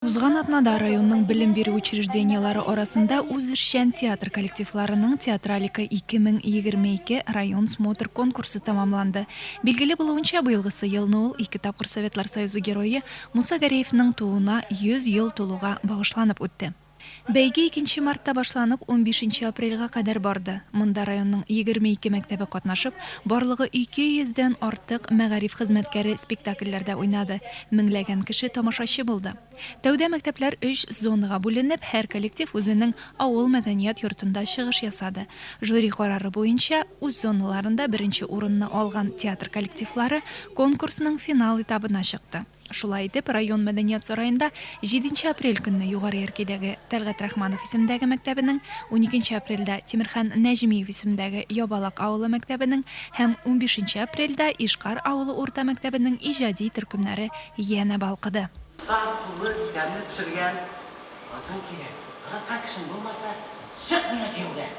Узган атнада районның белем бирү учреждениеләре арасында үзешчән театр коллективларының Театралика 2022 район смотр конкурсы тәмамланды. Билгеле булуынча, быелгысы елны ул ике тапкыр Советлар Союзы Герое Муса Гәрәевның тууына 100 ел тулуга багышланып үтте. Бәйге икенче мартта башланып, унбишенче апрельгә кадәр барды. Монда районның егерме ике мәктәбе катнашып, барлыгы ике йөздән артык мәгариф хезмәткәре спектакльләрдә уйнады, меңләгән кеше тамашачы булды. Тәүдә мәктәпләр өч зонага бүленеп, һәр коллектив үзенең авыл мәдәният йортында чыгыш ясады. Жюри карары буенча, үз зоналарында беренче урынны алган театр коллективлары конкурсның финал этабына чыкты. Шулай итеп, район мәдәният сараенда җиденче апрель көнне Югары Яркәйдәге Тәлгать Рахманов исемендәге мәктәбенең, уникенче апрельдә Тимерхан Нәҗмиев исемендәге Ябалак авылы мәктәбенең һәм унбишенче апрельдә Ишкар авылы урта мәктәбенең иҗади төркемнәре янә балкыды. Тар куллы бизәмне пешергән алтын кирәк. Ырыткан кешең булмаса, чыкмый әти юлдан.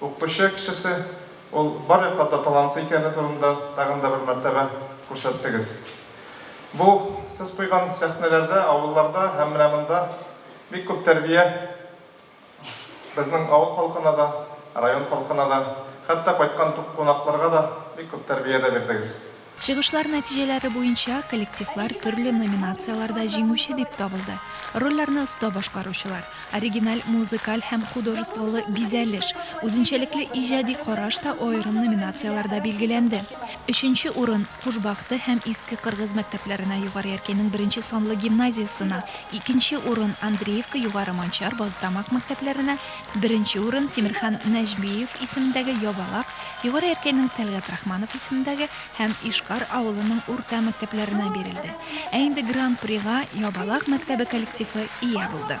Укытучы кешесе, ул бар якта да талантлы икәне турында тагын да бер мәртәбә күрсәттегез. Бу сез куйган сәхнәләрдә, авылларда һәм менә монда бик күп тәрбия безнең авыл халкына да, район халкына да, хәтта кайткан кунакларга да бик күп тәрбия дә бирдегез. Чыгышлар нәтиҗәләре буенча коллективлар төрле номинацияләрдә җиңүче дип табылды. Рольләрне оста башкаручылар, оригиналь музыкаль һәм художестволы бизәлеш, үзенчәлекле иҗади караш та аерым номинацияләрдә билгеләнде. Өченче урын Куш Бахты һәм Иске Кыргыз мәктәпләренә Югары Яркәйнең беренче санлы гимназиясенә, икенче урын Андреевка Югары Манчар, Базытамак мәктәпләренә, Беренче урын Тимерхан Нәҗмиев исемендәге Ябалак, Югары Яркәйнең Тәлгать Рахманов исемендәге һәм Ишкар авылының урта мәктәпләренә бирелде. Ә инде Гран-прига Ябалак мәктәбе коллективы ия булды.